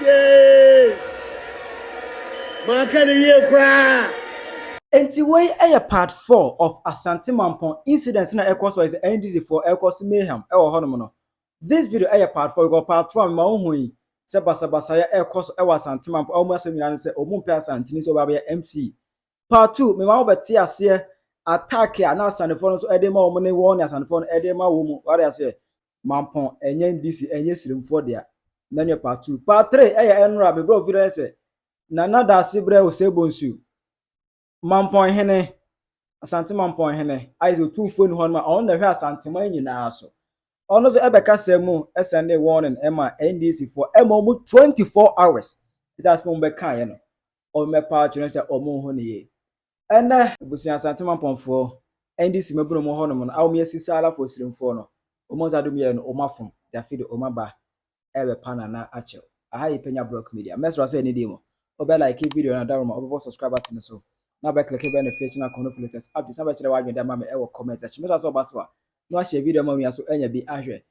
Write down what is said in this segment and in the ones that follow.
Yay! Manka no yie koraa. Nti wei yɛ part four of Asante Mampong incident na ɛkɔ so hɔ yi sɛ NDC foɔ ɛkɔ so mayhem ɛwɔ hɔ nom no. This video ɛyɛ part four because part two a mema wo hu yi sɛ basabasayɛ ɛkɔ so ɛwɔ Asante Mampong a wɔn asɛm nyinaa ne sɛ wɔn mpɛ Asanteni sɛ ɔbɛ abɛyɛ MC. Part two mema wo bɛte aseɛ attack a na Asantefoɔ no nso ɛde ma wɔn ne wɔn ne Asantefoɔ no ɛde ma wɔn mu wate aseɛ. Mampɔn ɛnyɛ ndc ɛnyɛ siremfoɔ dea na nyɛ part two part three ɛyɛ ɛnora bebrɛ ofi dɛ sɛ Nana Daase brɛ Osei Bonsu Mampɔn hene Asante Mampɔn hene ayɛ sɛ otumfoɔ ni hɔ nom a ɔno na ɛhwɛ Asanteman nyinaa so ɔno so ɛbɛ kasa mu ɛsɛnde warning ɛma ndc foɔ ɛma ɔmo 24 hours ɛda asɛm ɔmo bɛkaeɛ no ɔmo bɛpa akyerɛ sɛ ɔmo ho ne yie Ɛnnɛ, ebusua Asante Mampɔnfoɔ, NDC Mabunu mu hɔnom no a wɔyɛ Sisaalafo Osirimfoɔ no, wɔn dza do meyɛɛ no wɔn afom, dafi do wɔn aba ɛɛbɛpa Nana akyɛw. Aha yɛ Penya Brock Media. Mɛsera sɛ ɛnɛ dei mu, wobɛ like video no na dawroma wobɛbɔ subscribe button no so na wobɛ click bell notification icon no for latest updates na wobɛkyerɛ w'adwene de ama me ɛwɔ comment section. Mɛsera sɛ ɔba so a na wahyɛ video ama wo nua so anya bi ahwɛ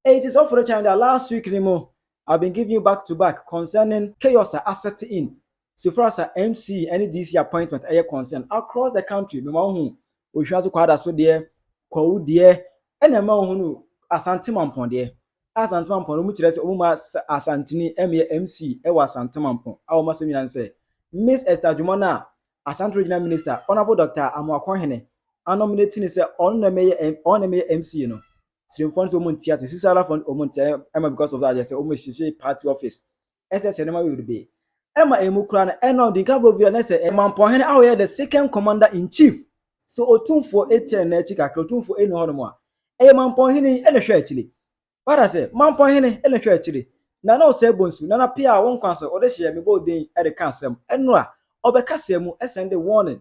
Enti sɛ ɔfrɛ kyɛn da a, last week no mu I've been giving you back to back concerning chaos a asɛt in so far as a MC ne DC appointment ɛyɛ concern across the country. Mema wo hu Ohwira so Kwaada so deɛ, Kwawu deɛ, ɛna mema wo hunu Asante Mampɔn deɛ. A Asante Mampɔn no, wɔn kyerɛ sɛ wɔn ma Asanteni mmea MC wɔ Asante Mampɔn. A wɔn asɛm nyinaa ne sɛ Miss Esther Adwuma no a Asante Regional Minister Honourable Doctor Amoako Hene anominate no sɛ ɔno na ɛmɛyɛ ɔno na ɛmɛyɛ MC no. sremfoɔ no sɛ wɔn nti ase sisara fɔ no wɔn nti ayɛ ɛma because of that yɛ sɛ wɔn ehyehyɛ party office ɛsɛ sɛ ɛnɛma yɛ be ɛma emu kura no ɛna ɔdi nka bɔ via n'ɛsɛ ɛmampɔhene a ɔyɛ the second commander in chief sɛ otumfoɔ etia n'akyi kakra otumfoɔ ɛni hɔ nom a ɛyɛ mampɔhene yi ɛna hwɛ akyire wada sɛ mampɔhene ɛna hwɛ akyire nana ɔsɛ bɔ nsu nana pia wɔn kwan so ɔde hyɛ mebɔ odin ɛde ka asɛm ɛnora ɔbɛka sɛ mu ɛsɛn de warning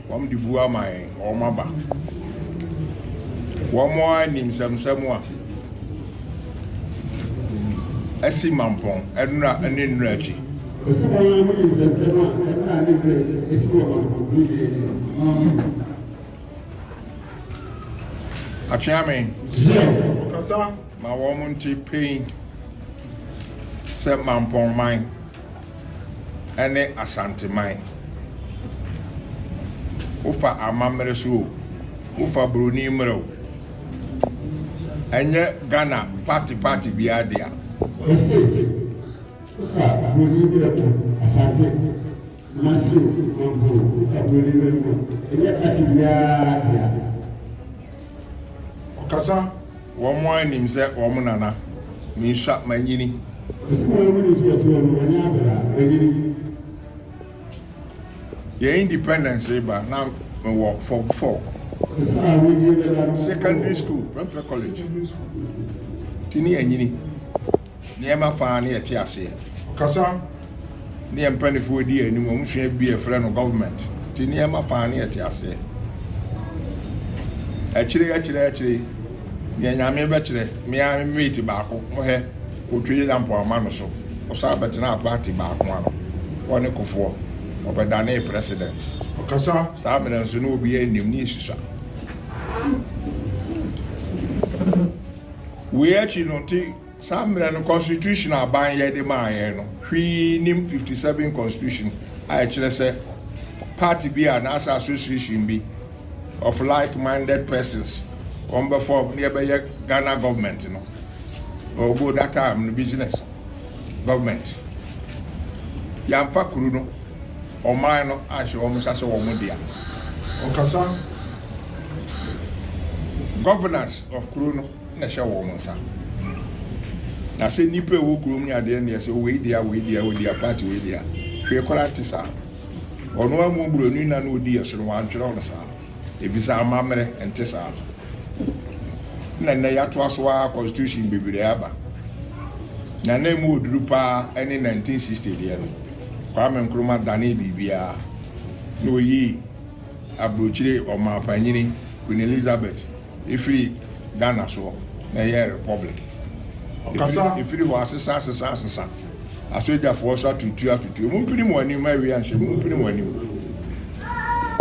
Wɔn de bu ama yɛn, wɔn aba. Wɔn ara nim sɛmsɛm a asi mampɔn, nnora ne nnora akyi. Ɔsi wɔn ara mo nim sɛmsɛm a nnora ne nnora akyi asi wɔ mampɔn ne nnua akyi. Akyea me. Ɔkasa ma wɔn nte pɛn sɛ mampɔn man. ne Asanteman, wofa amammerɛ so o, wofa buroni mmerɛ o, ɛnyɛ Ghana party party biara dea. Mese wofa buroni mmerɛ o, Asante Kumasi o, Mampong, wofa buroni mmerɛ o, ɛnyɛ party biara dea. Ɔkasa, Wɔn ara nim sɛ wɔn nana. Mensua, manyini. Sɛnea wɔn ani so atuo no, wɔnyɛ abere a, manyini. Yɛn independence reba na mewɔ form four. Te sɛ a wodie bɛda no. Secondary school, mempɛ college. Nti ne anyini. Nneɛma fa a ne yɛte aseɛ. Ɔkasa ne yɛn mpaninfoɔ di yɛn anim, wɔn sua bi a yɛfrɛ no government te nneɛma fa a ne yɛte aseɛ. Akyire akyire akyire neɛ Nyame bɛkyerɛ, me ara me mate baako, mohɛ, ɔtwei na mpoama no so, ɔsan bɛtenaa party baako ano, ɔne Kufoɔ, ɔbɛdanee president. Ɔkasa. Saa mmerɛ nso ne obiara nnim ne yɛsusua. Wei akyi no nti. Saa mmerɛ no constitution a Banyɛ de maa yɛn no hwee nnim fifty seven constitution a ɛkyerɛ sɛ party bi a anaasɛ association bi of like minded persons wɔn bɛ form na yɛbɛyɛ Ghana government no ɔbo that time no business government yɛamfa kuru no ɔman no anhyɛ wɔn nsa sɛ wɔn dea ɔkasa governance of kuru no. na ɛhyɛ wɔn nsa. Na sɛ nnipa a ɛwɔ kurom ne adeɛ neɛ sɛ wei dea wei dea wei dea party wei dea hwee koraa nte saa. Ɔno ara mu buroni na na ɔdi yɛ so no wantwerɛ no saa ɛfiri sɛ amammerɛ nte saa. Na nnɛ yɛatoa so ara constitution bebree aba na na ɛmu ɔduru paa ɛne 1960 deɛ no Kwame Nkrumah danee biribiara na ɔyii aburokyire ɔmaapanyini Queen Elizabeth Efiri Ghana soɔ na ɛyɛɛ republic. Efiri hɔ asesa asesa asesa. Asogyafoɔ nso atutu atutu. Mo mpini mo anim ma awia nhyɛ mo. Mo mpini mo anim.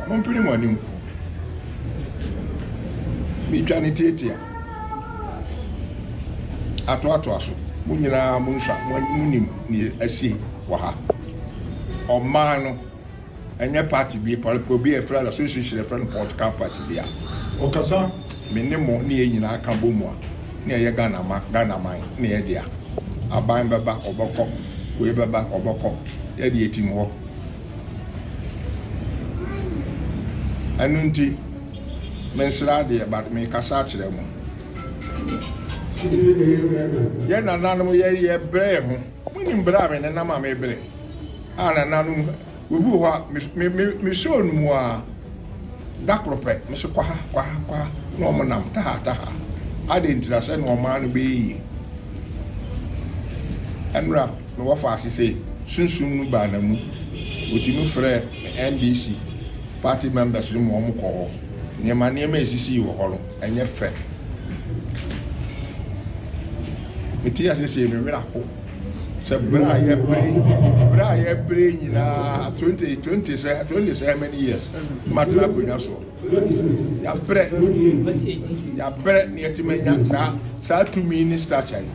Mo mpini mo anim. Metwa ne tiatia. Atoatoa so. Mo nyinaa mo nsa mo nim ne asi wɔ ha. Ɔman no. Ɛnyɛ party bi paa pɛ obi a yɛfrɛ no association a yɛfrɛ no political party bi a ɔkasa me ne mo ne yɛn nyinaa ka bɔ mu a na yɛyɛ Ghana ma Ghana man ne yɛ dea aban bɛba ɔbɛkɔ wei bɛba ɔbɛkɔ yɛ de yɛtim hɔ ɛno nti mensrɛ adeɛ but mekasa akyerɛ mo yɛ nananom yɛyɛ brɛ yɛ ho Monim bere a me nenam a mebrɛ a nananom obi wɔ hɔ a me me me sɔɔ no mu ara da koro pɛ me se kwaha kwaha kwaha na wɔn nam taha taha adɛn ntira sɛ na ɔmaa no bɛyɛ yie ɛnura na wɔfa ase sɛ sunsum no baa na mu wɔtumi frɛ NDC party members no mu wɔn kɔ hɔ nneɛma nneɛma esisi wɔ hɔ no. Ɛnyɛ fɛ. Mete ase sie me werɛ aho sɛ berɛ a yɛbere berɛ a yɛbere nyinaa twenty twenty sɛ twenty sɛ how many years matena akonnwa soɔ yɛabrɛ yɛabrɛ na yɛtumi anya saa saa tumi ne stature yi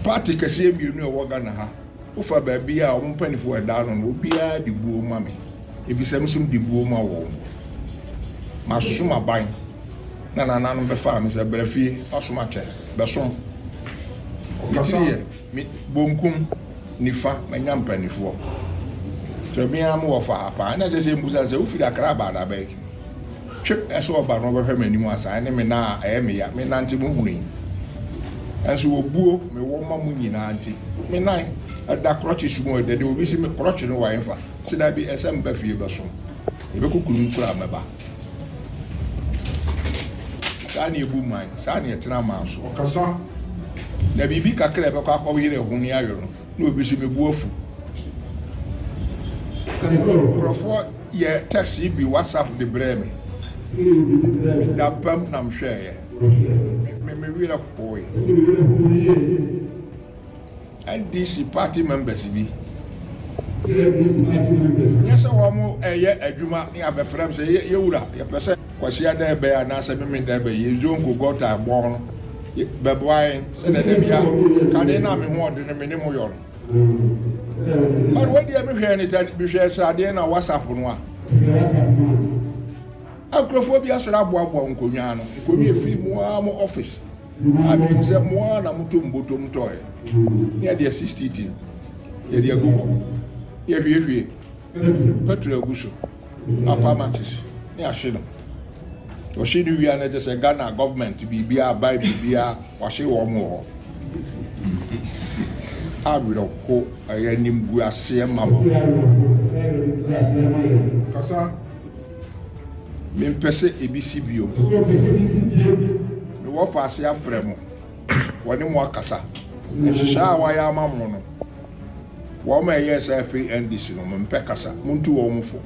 party kɛseɛ mmienu a ɛwɔ Ghana ha Wofa baabi a wɔn mpanyimfo wɔ da ano no, obiara de buo ma me, efisɛ me nso mede buo ma wɔn. Masom aban, na nananom bɛfaa me sɛ, Bra fie, w'asom akyɛ, bɛsom. Me tiri yɛ me bonkum, nifa, manya mpanimfoɔ. Sɛ me ara mewɔ fa ha paa, na ɛsɛ sɛ mibisa sɛ, Wofiri Accra aba da bɛn? Twe pɛ sɛ ɔba na ɔbɛhwɛ m'anim ansa, ɛne me nan a ɛyɛ me ya, me nante mu hunu yi. Nanso obuo mewɔ ma mo nyinaa nti, me nan da krɔkyes mu o, ɛdɛ de obi se me krɔkye no wa ɛmfa, se dabi, ɛsɛ meba fie bɛsom, yɛbɛkɔ kurom koraa a mɛba. Saa ne ɛbu man, saa ne ɛtena man so. Ɔkasa. Na biribi kakra a ɛbɛkɔ akɔyere ɛho ne ayɔ no. Na obi nso me bo afu. Nkurɔfoɔ yɛ text bi WhatsApp de brɛɛ me. Me da pam na me hwɛɛyɛ. Me me werɛ hoe. NDC party members bi. Nyɛ sɛ wɔn ɛyɛ adwuma ne abɛfrɛ me sɛ yɛ wura yɛpɛ sɛ. Kwasia Dɛɛbɛ anaasɛ Meme Dɛɛbɛ, Yezuo Nkogɔta bɔn no, bɛboa yɛn sɛdeɛ da bia kane no a me ho ɔden no mene mo yɔ no. But wei deɛ me hwɛɛ ne tɛ me hwɛɛ sradeɛ na WhatsApp no a. Nkurɔfoɔ bi asɔre aboaboa nkonnwa no, nkonnwa ɛfiri mu ara mo office. A menim sɛ mo ara na moto mbotom tɔɔɛ. Ne yɛde asisi team, yɛde agu hɔ, yɛhwiehwie. Petro agu so apa matches ne ahye no ɔhye no wia no kyesɛ Ghana government biribiara ban biribiara wahye wɔn wɔ hɔ awerɛho ɛyɛ animguaseɛ ma wɔn kasa mempɛ sɛ ebi si bio mewɔ faase afrɛ mo wɔne mo akasa nhyehyɛ a wɔayɛ ama mo no Wɔn a ɛyɛɛ saa firi NDC no wɔn mpɛ kasa, montu wɔn fo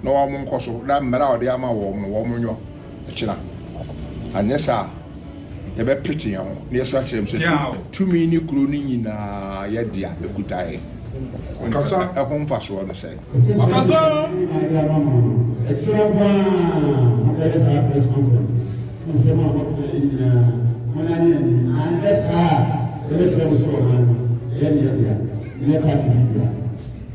na wɔn nkɔ so na mmara a wɔde ama wɔn no wɔn nyɔ kyena, anyɛ saa a yɛbɛ pete yɛn ho na yɛsu akyerɛ mu sɛ tumi ne kuro no nyinaa yɛ dea ɛkuta yɛn, ɛho mfasoɔ ne sɛn? Ɔkasa. Ɛhyira paa mobɛyɛ saa press conference nsɛm a mɔka yɛ nyinaa monane ani anyɛ saa a yɛbɛkyerɛ mo so ɔman no ɛyɛ ne yɛdea nyɛ party bi dea.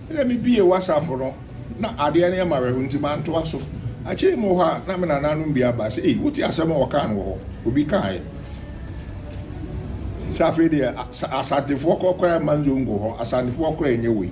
Ɛna me bie WhatsApp no na adeɛ no yɛ me awerɛho nti mantoa so. Akyire yi mewɔ hɔ a na me nananom bi aba sɛ ei wote asɛm a wɔkaa no wɔ hɔ obi kaeɛ sɛ afei deɛ Asantefoɔ kɔ koraa mma nzongo hɔ Asantefoɔ koraa nyɛ wei.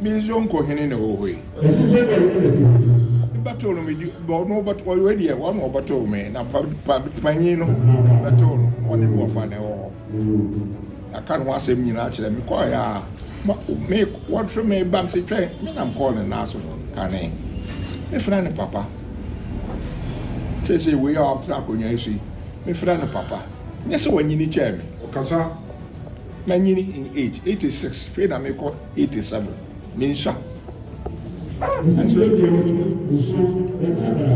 Me nso nko hene na ɛwɔ hɔ yi. Ɛsɛ sɛ ɛbɛn ne bɛte hɔ yi. Bɛtew no medi ɔno bɛte ɔyɛ deɛ wɔn na ɔbɛtew me na pa pa panyin no bɛtew no na ɔne me wɔfa na ɛwɔ hɔ. Yɛaka ne ho asɛm nyinaa kyerɛ me kɔɔ yɛ a me wɔtwe me ba me se twɛn me nam kɔɔ ne nan so kane mefrɛ ne papa sese wei a ɔtena akonnwa yi so yi mefrɛ ne papa nyɛ sɛ wɔnyini kyɛɛ me. Ɔkasa. Manyini in age, eighty six, fei na mekɔ eighty seven, mensua.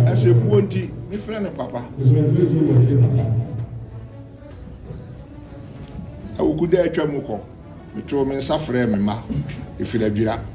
Ɛsɛ buo nti, mefrɛ no papa. Awukuda atwa mu kɔ, metoo me nsa frɛɛ me mma, ɛfiri Adwira.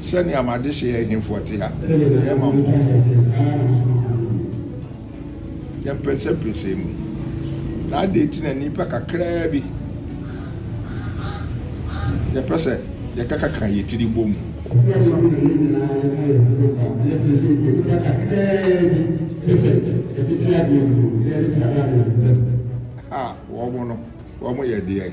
Sɛnea mo adehye yɛ ahemfo te a, yɛyɛ ma mo yɛn mpɛnsɛmpɛnsɛn mu. Na adɛn nti na nnipa kakraa bi yɛpɛ sɛ yɛkakaka yɛn tiri bɔ mu kasa? A Wɔn no, wɔn yɛ deɛn?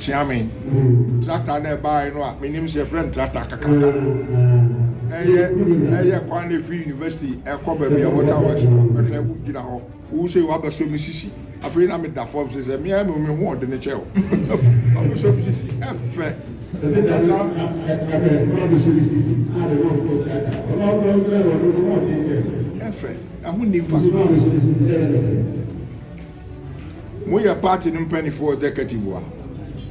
Kyea me tractor na ɛbaeɛ no a menim sɛ yɛfrɛ no tractor kakaka ɛyɛ ɛyɛ kwan na ɛfiri university ɛkɔ baabi a water works no ɛhwɛ wo gyina hɔ wo sɛ wabɛsɔ me sisi afei na meda fam sɛ sɛ meɛ me me ho ɔde ne kyɛ o wabɛsɔ me sisi ɛfɛ ɛdasa ɛfɛ ɛho nni mfa Moyɛ party no mpanimfoɔ executive a,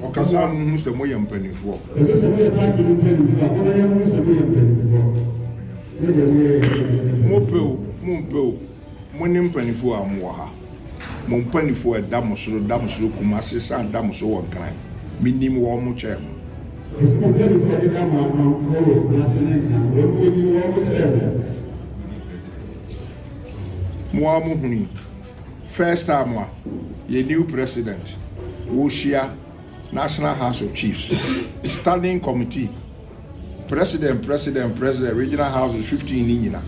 ɔkasa a monhu sɛ moyɛ mpanimfoɔ. Ɛsɛ sɛ moyɛ party no mpanimfoɔ a, ɔma yɛhu sɛ moyɛ mpanimfoɔ. Ne deɛ moyɛ yɛ ɛsɛ moyɛ mpanimfoɔ. Mopɛ o, mompɛ o, mone mpanimfoɔ a mowɔ ha. Mo mpanimfoɔ a ɛda mo soro da mo soro Kumasi san da mo so wɔ Nkran. Menim wɔn mo kyɛn mo. Ɛsɛ sɛ mo mpanimfoɔ a ɛdeda mo ano no wɔ Kumasi ne Nkran, wɔn monim wɔn mo kyɛn mo. Mo ara mohunu yi. First time a yɛn new president wohyia National House of Chiefs standing committee, president, president, president, regional houses 15 ne nyina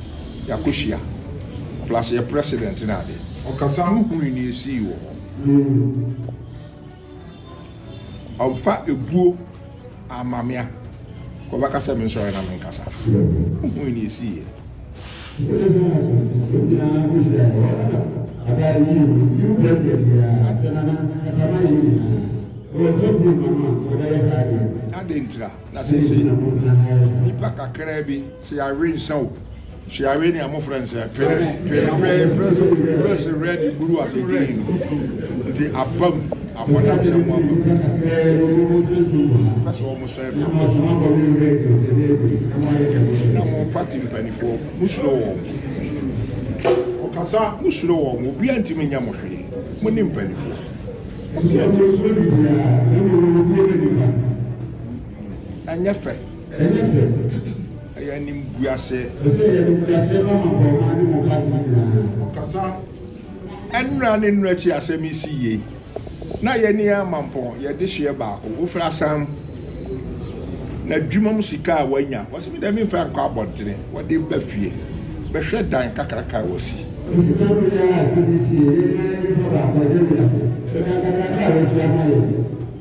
yɛakɔhyia plus yɛ president ne ade. Ɔkasa ho hunu nea ɛsii wɔ hɔ. Ɔmfa ebuo amma me a, nka ɔbɛka sɛ mensɔre na menkasa. Wohui nea esiiɛ. Adɛn ntira na seesei nnipa kakraa bi Searee nsa o, searee nea mo frɛ no sɛ pere, pere mo frɛ sɛ pere se red buru ase green no nti aba mu abɔdam sɛ mo aba mu pɛ sɛ ɔmo sɛe me aba mu na mo party mpanifoɔ mo suro wɔn ɔkasa mo suro wɔn obiara ntumi nyɛ mo hwee mo ne mpanifoɔ obiara ntumi ɛnyɛ fɛ. Ɛnyɛ sɛ. Ɛyɛ animguaseɛ. Ɔsɛ ɛyɛ animguaseɛ ma maporɔma ne mɔfase no nyinaa. Ɔkasa nnora ne nnora akyi asɛm yi si yie, na yɛn ani ara mampɔn, yɛn dehyeɛ baako, wofiri asan n'adwuma mu sika a wanya, ɔse me deɛ memfa nkɔ abɔntene, wɔde ba fie bɛhwɛ dan kakraka a wasi. Ɔse na wei ara asɛm yi si yie, yɛn ara yɛn nipa baako, ɛyɛ wiase, ɛdan kakraka a wasi ama yɛn.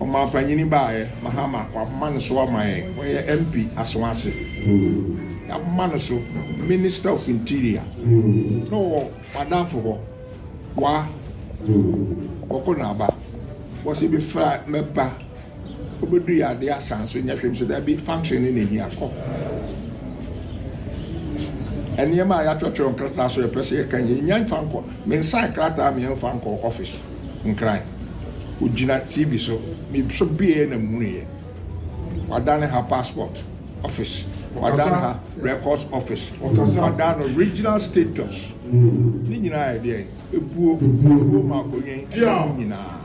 Ɔmanpanyini baeɛ, Mahama, waboma no so ama yɛn. Ɔyɛ MP Asawase. Yɛaboma no so, Minister of Interior. Na ɔwɔ m'adamfo hɔ, Wa Bɔko Naaba. Wɔse befra mɛba, ɔbɛduiɛ adeɛ asan so nyɛ hwee. Mese daabi, function no na ɛhia, kɔ. Nneɛma a yɛatwerɛtwerɛ nkrataa so a yɛpɛ sɛ yɛka nyinaa, yɛnnya mfa nkɔ. Mensan krataa a meɛmfa nkɔɔ office. nkran. Ogyina TV so. Mesɔ biaɛ na mehunuiɛ. Wadane ha passport office. Wadane ha records office. Wadane no regional status. Ne nyinaa yɛ deɛn? Ebuo. Ebuo ma akonwen ɛna ne nyinaa.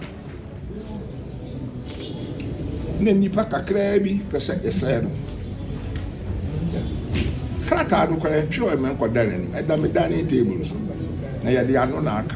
Na nipa kakraa bi pɛ sɛ yɛsɛɛ no. Krataa no kora yɛntwerɛ mɛnkɔda n'anim. Ɛda me dining table so. Na yɛde ano na aka.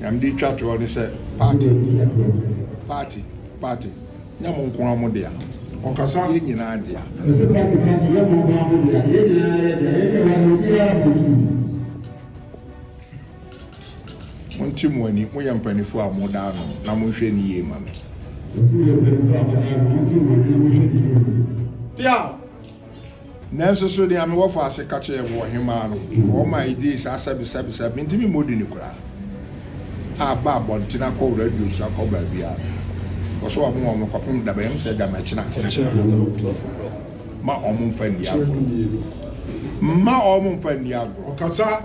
Nea mede retwa toɔ ne sɛ party party party nyɛ mo nko ara mo dea. Ɔkasa yɛ nyinaa dea. Ɛsɛ party party nyɛ mo nko ara mo dea. Yɛ nyinaa yɛ dea. Yɛ nyinaa yɛ obiara mo tu. Monte mo ani, moyɛ mpanifoɔ a mo da ano na mo nhwɛ ne yie ma me. Yɛsi yɛ mpanifoɔ a mo da ano, monte mo ani na mo nhwɛ ne yie ma me. Piaw! Nanso so nea mewɔ faase ka kyerɛɛ mo ɔhemmaa no, wɔn a egyee saa sɛbesɛbe sɛ mintumi mmɔ din no koraa a ba abɔnten akɔ radio so akɔ baabiara no, wɔsow wɔn wɔn kɔpem da bɛn? Ɛwom sɛ Gyamɛkyena ma wɔn mfa nni agorɔ, mma wɔn mfa nni agorɔ.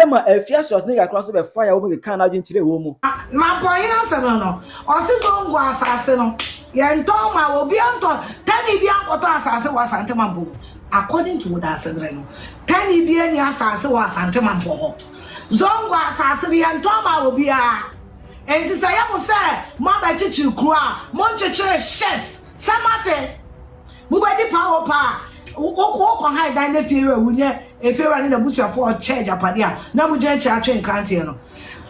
Ɛma ɛfia Schwarzenegger kora nso bɛfae a wɔkekaa n'adwene kyerɛɛ wɔn mu. Mampɔn asɛm no no, ɔse Zongo asase no yɛntɔ ma obiara ntɔ, tani biara nkɔtɔ asase wɔ Asante Mampɔn mu. According to wo daasedrɛ no, tani biara nni asase wɔ Asante Mampɔn hɔ. Zongo asase no yɛntɔ ma obiara. Enti sɛ ɛyɛ mo sɛ moabɛkyekyere kuro a, monkyekyere shit! Sɛ moate? Mobɛdi paa o paa. Wo wo kɔ ha ɛdan na fie wura wu nyɛ efie wura ne n'abusuafoɔ a ɔkyɛ agyapade a na mo gyina akyire atwe nkranteɛ no.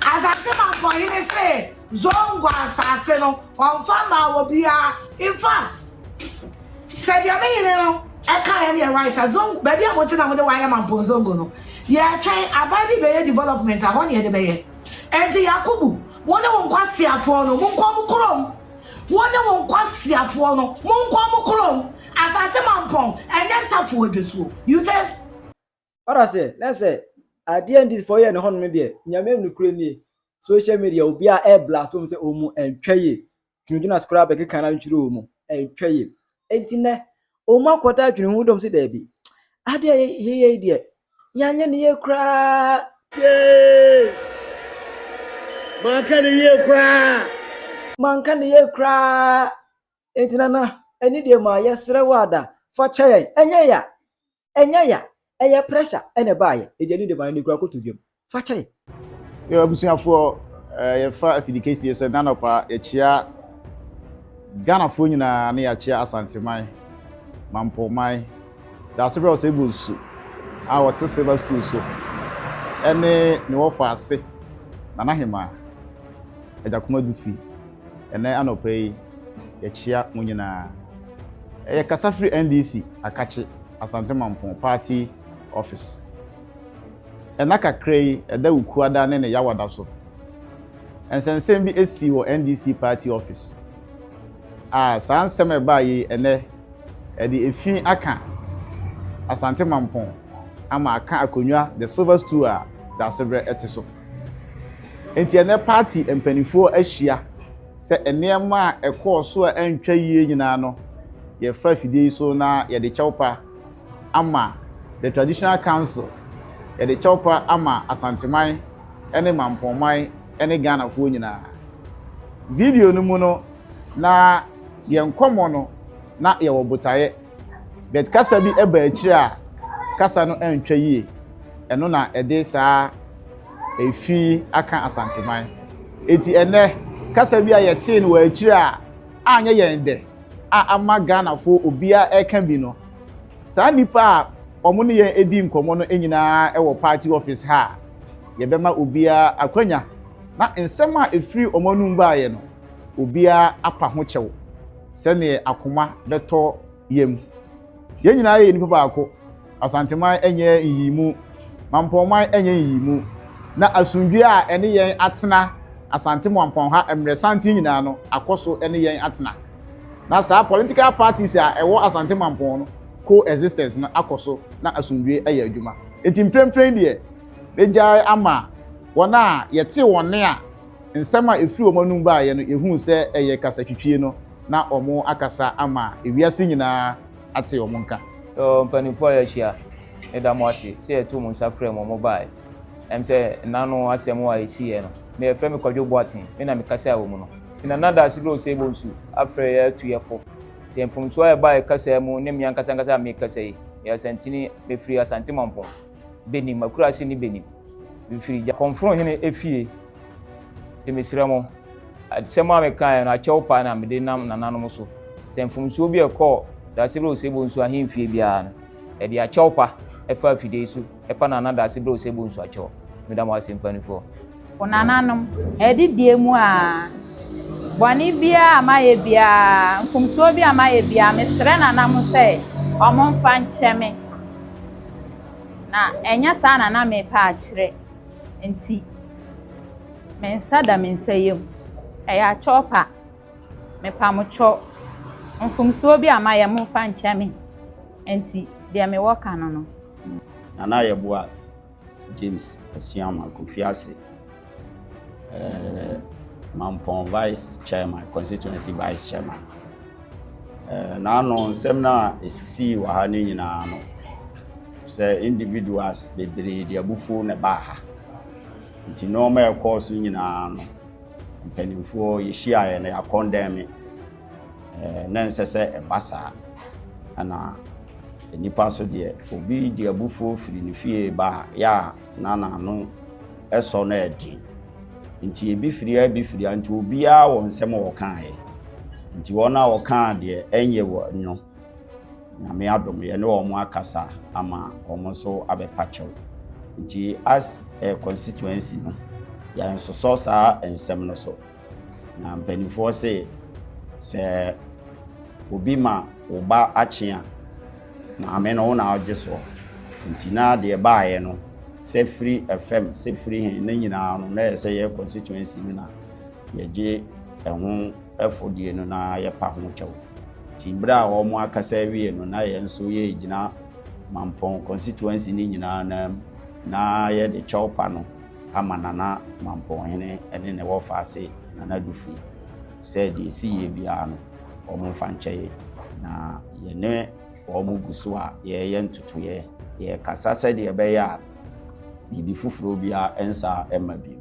Asase manfoɔ hene se Zongo asase no ɔnfa mmaa obiara infact sɛ deɛ me hene no ɛkaeɛ no yɛ right a Zongo baabi a mote na mode hɔ ayɛ Mampong Zongo no yɛtwɛn aban bi bɛyɛ development a hɔ ne yɛde bɛyɛ. Ɛnti Yakubu wo ne wo nkwaseafoɔ no monkɔ mo kurom. Wo ne wo nkwaseafoɔ no, monkɔ mo kurom, Asante Mampɔn, ɛnyɛ Ntafo Adwasuo. Utes. Ɔda sɛ na sɛ adeɛ ndisfoɔ yɛ no hɔ nom deɛ nyame nokorɛ nie social media obiaa ɛɛblaste wɔn sɛ wɔn ɛntwa yie Tino Jonas koraa bɛkeka no atwitire wɔn ɛntwa yie Enti nnɛ, wɔakɔda adwene ho dɔm sɛ daabi, adeɛ a yɛyɛ yi deɛ, yɛanyɛ no yie koraa. Yee! Manka no yie koraa. Manka no yie koraa. Enti Nana, ɛne deɛ ma yɛsrɛ wo a da, fa kyɛ yɛn. Ɛnyɛ ya! ɛnyɛ ya ɛyɛ pressure ɛna ɛbaayɛ ɛdi ɛne dema no nikura koto dwam fa kyɛ yɛ. Yo abusuafoɔ eh, yɛfa afidikesie sɛ nanɔpa yɛkyea Ghanafoɔ nyinaa ne yɛakyea Asanteman, Mampoman, Dasebrɛ Ɔsɛebu Nsu a wɔte silver stool so ɛne ne wɔfa ase Nana Hemaa Agyakomadu fi. Ɛnnɛ anɔpa yi, yɛkyea mo nyinaa. Ɛyɛ kasa firi NDC Akakye Asante Mampong Party Office. Ɛna kakra yi ɛda Wukuada ne ne Yawada so. Nsɛnsɛm bi ɛsii wɔ NDC Party Office a saa nsɛm a ɛbaa yi ɛnɛ ɛde efi aka Asante Mampong ama aka akonnwa the silver stool a Daasebrɛ ɛte so. Enti ɛnnɛ paati mpanimfoɔ ahyia sɛ nneɛma a ɛkɔɔ so a ɛntwa yie nyinaa no, yɛfa afidie yi so na yɛde kyɛwpa ama the traditional council, yɛde kyɛwpa ama Asanteman ne Mampɔnman ne Ghanafoɔ nyinaa. Video no mu no, na yɛn nkɔmmɔ no, na yɛwɔ botaeɛ. But kasa bi ɛba akyire a kasa no antwa yie. Ɛno na ɛde saa efi aka Asanteman. Eti ɛnɛ kasa bi a yɛtee no wɔ akyire a anyɛ yɛn dɛ a ama Ghanafoɔ obiara ɛka bi no, saa nipa a wɔn ne yɛn edi nkɔmɔ no nyinaa ɛwɔ party office ha a yɛbɛma obiara akwanya na nsɛm a efiri wɔn anum baayɛ no obiara apa ho kyɛw. sɛneɛ akoma bɛtɔ yam. Yɛn nyinaa yɛ nnipa baako. Asanteman nyɛ nyiyimu, Mampɔnman nyɛ nyiyimu, na asomdwoe a ɛne yɛn atena Asante Mampɔn ha mmerɛ santen nyinaa no akɔ so ne yɛn atena. Na saa political parties a ɛwɔ Asante Mampɔn no co-existence no akɔ so na asomdwoe ayɛ adwuma. Enti mprempren deɛ, megyae ama wɔn a yɛte wɔn nne a Nsɛm a ɛfiri wɔn anom baeɛ no, yɛhuu sɛ ɛyɛ kasatwitwie no, na wɔakasa ama ewiase nyinaa ate wɔn nka. O mpanimfoɔ a yɛahyia, meda mo ase sɛ yɛtoo mo nsa frɛɛ mo a mobaeɛ. Ɛwom sɛ nna ano asɛm a ɛsiiɛ no, me a wɔfrɛ me Kwadwo Boateng, me na mekasaa wɔ mu no, nti na Nana Daase Brose Bonsu afrɛ yɛn atu yɛn fo. Sɛ mfomsoɔ a ɛbaeɛ kasaa mu ne me ankasa ankasa a merekasa yi, meyɛ Asantini, mefiri Asante Mampong. benim, m'akuraase ne benim. Mefiri gya kɔmforo hene efie, te mesrɛ mo, asɛm a mekaeɛ no, akyɛw pa na mede nam nananom so, sɛ mfomsoɔ bi a ɛkɔɔ Daasebrɛ Osebɔ Nsu ahemfie biara no, ɛde akyɛw pa ɛfa afidie so, ɛpa nana Daasebrɛ Osebɔ Nsu akyɛw. Meda mo ase mpaninfoɔ. O nananom, ɛde deɛ mu aa. Bɔne biara a mayɛ biara, mfomsoɔ biara a mayɛ biara, mesrɛ nana mo sɛ ɔmo mfa nkyɛ me. Na ɛnyɛ saa na na mepɛ akyerɛ nti, me nsa da me nsa yam. Ɛyɛ akyɛw pa. Mepamokyɛw, mfomsoɔ bi a mayɛ momfa nkyɛ me nti deɛ mewɔ ka no no. Nana Yeboah. James Asuama Kofiase, uh, Mampong Vice Chairman, Constituency Vice Chairman. Uh, n'ano nsɛm no a ɛsisii wɔ ha no nyinaa no sɛ individuals bebree de abufuo na ɛbaa ha nti nneɛma ɛkɔɔ so nyinaa no mpanimfoɔ yɛhyiaeɛ no yɛakɔndɛn me Na ɛnsɛ sɛ ɛba saa. Ɛna nnipa nso deɛ, obi de abufuo firi ne fie ba a, yɛ a na n'ano sɔ no ɛden. Nti ebi firi ha, ebi firi ha, nti obiara wɔ nsɛm a ɔkaeɛ. Nti wɔn a wɔkaa deɛ ɛnyɛ wɔn no, Nyame adom yɛne wɔn akasa ama wɔn nso abɛpa kyɛw. Nti as a constituency no, yɛnsosɔ saa nsɛm no so. Na mpanimfoɔ se sɛ obi ma wo ba akye a maame no wo na wogye soɔ nti na deɛ baeɛ no sɛ firi fam sɛ firi he ne nyinaa no na ɛsɛ yɛ constituency no na yɛgye ɛho ɛfodie no na yɛpa ho kyɛw nti berɛ a wɔn akasa awie no na yɛn nso yɛgyina mampɔn constituency no nyinaa na na yɛde kyɛw pa no ama Nana Mampɔnhene ne ne wɔfa ase Nana Dufui sɛ deɛ ɛsi yie biara no, wɔn mfa nkyɛ yɛn. Na yɛne wɔn gu so a yɛreyɛ ntotoeɛ, yɛrekasa sɛdeɛ ɛbɛyɛ a biribi foforɔ biara nsa mma bio.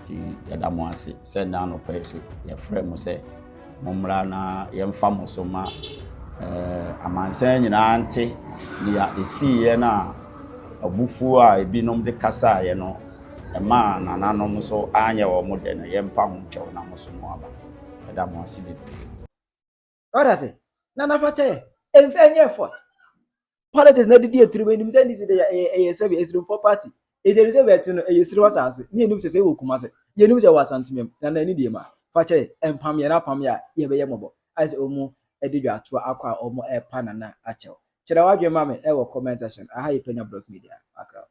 Nti yɛda mo ase sɛ nnɛ anɔpa yi so yɛfrɛɛ mo sɛ. Mommra na yɛmfa mo so ma amansan nyinaa nte nea esiiɛ no a abufuo a ebinom de kasaeɛ no maa nananom so anyɛ wɔn dɛ no, yɛmpa ho nkyɛw na mo so mo aba. Yɛda mo ase bebree. Ɔda sɛ, Nana fa kyɛ yɛn, ɛmfa nyɛ effort. politics na ɛde di atiri mu enim sɛ ndc de ɛyɛ ɛyɛ sɛ ɛsirimfoɔ party edi enim sɛ bɛɛte no ɛyɛ siri wasaase ne enim sɛ sɛ ɛwɔ kuma sɛ yɛ enim sɛ ɛwɔ asantemɛ mu na na ɛne deɛ ma fakyɛ ɛmpam yɛ na apam yɛ a yɛ bɛyɛ mɔbɔ ayɛ sɛ ɔmo ɛde dwa atoa akɔ a ɔmo ɛpa nana akyɛw kyerɛ wadwen ma me ɛwɔ comment section aha yɛ panya block media background.